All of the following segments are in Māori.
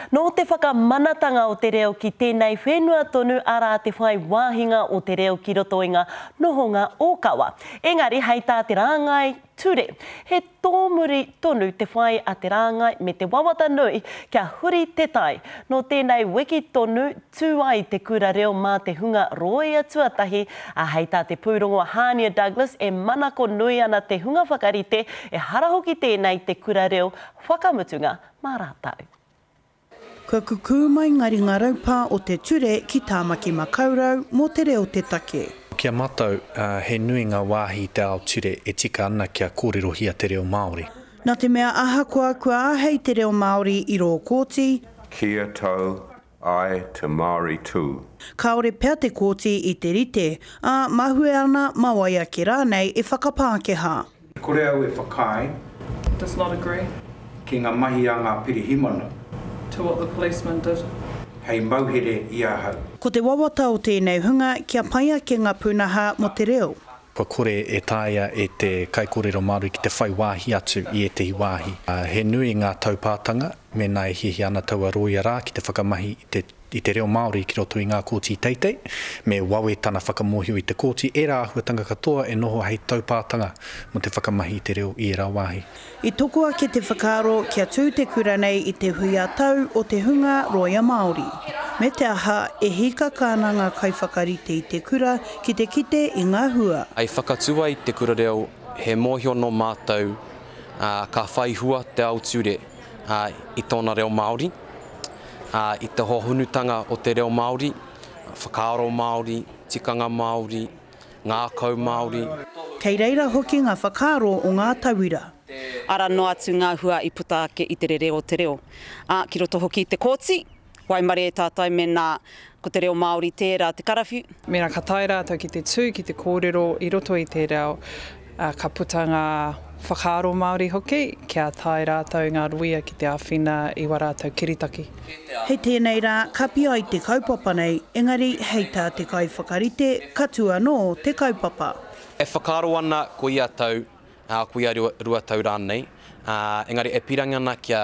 Nō te whakamanatanga o te reo ki tēnei whenua tonu arā te whai wāhinga o te reo ki roto i ngā nohonga ōkawa. Engari hei tā te rāngai ture, he tōmuri tonu te whai a te rāngai me te wawata nui kia huri te tai. Nō tēnei wiki tonu tū ai te kura reo mā te hunga rōia tuatahi, ā, hei tā te pūrongo Hānia Douglas e manako nui ana te hunga whakarite, ehara hoki tēnei te kura reo whakamutunga mā rātou. Kua kukū mai ngā ringa raupā o te ture ki Tāmaki Makaurau mō te reo te take. Ki a matou, he nui nga waahi i te ao ture e tika ana kia kōrerohia te reo Māori. Na te mea ahakoa kua ahei te reo Māori i rō kōti, Kia tau Āe, te Māori tū. Kāore pea te Kōti i te rite, ā, mahue ana, mawai ake rānei e whakapākehā. Kore au e whakaae. Does not agree. Ki ngā mahi a ngā pirihimana. To what the policeman did. Hei mauhere i ahau. Ko te wawata o tēnei hunga kia pai ake ngā pūnaha mō te reo. kua kore e taea e te kaikōrero Māori ki te whai wāhi atu i ētehi wāhi. He nui ngā taupātanga mēnā e hiahia ana taua rōia rā ki te whakamahi i te reo Māori ki roto i ngā kōti teitei, me wawe tana whakamōhio i te kōti ērā āhuatanga katoa e noho hei taupātanga mō te whakamahi i te reo i ērā wāhi. I toko ake te whakaaro kia tū te kura nei i te hui ā-tau o te hunga rōia Māori. Me te aha, e hīkaka ana ngā kaiwhakarite i te kura ki te kite i ngā hua. I whakatū ai Te Kura Reo he mōhio nō mātou ka whai hua te ao ture i tōna reo Māori, i te hohonutanga o te reo Māori, whakaaro Māori, tikanga Māori, ngākau Māori. Kei reira hoki ngā whakaaro o ngā tauira. Arā noa atu ngā hua i puta ake i te rere o te reo, ā, ki roto hoki i te kōti, waimarie e tātai mēnā ko te reo Māori tērā te karawhiu. Mēnā ka tae rātou ki te tū ki te kōrero i roto i te reo, ā, ka puta ngā whakaaro Māori hoki kia tae rātou i ngā ruia ki te āwhina i wā rātou kiritaki. Hei tēnei rā ka pi ai te kaupapa nei, engari hei tā te kaiwhakarite, ka tū anō te kaupapa. E whakaaro ana ko ia tau, ā, ko ia rua tau rānei, ā, engari e pīrangi ana kia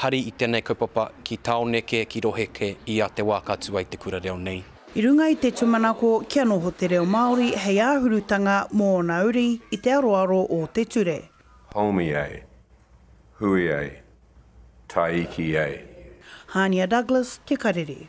hari i tēnei kaupapa ki tāone kē, ki rohe kē, i a te wā ka tū ai te kura reo nei. I runga i te tumanako kia noho te reo Māori hei āhurutanga mō ōna uri i te aroaro o te ture. Homi ei. Hui ei. Taiki ei. Hānia Douglas, Te Karere.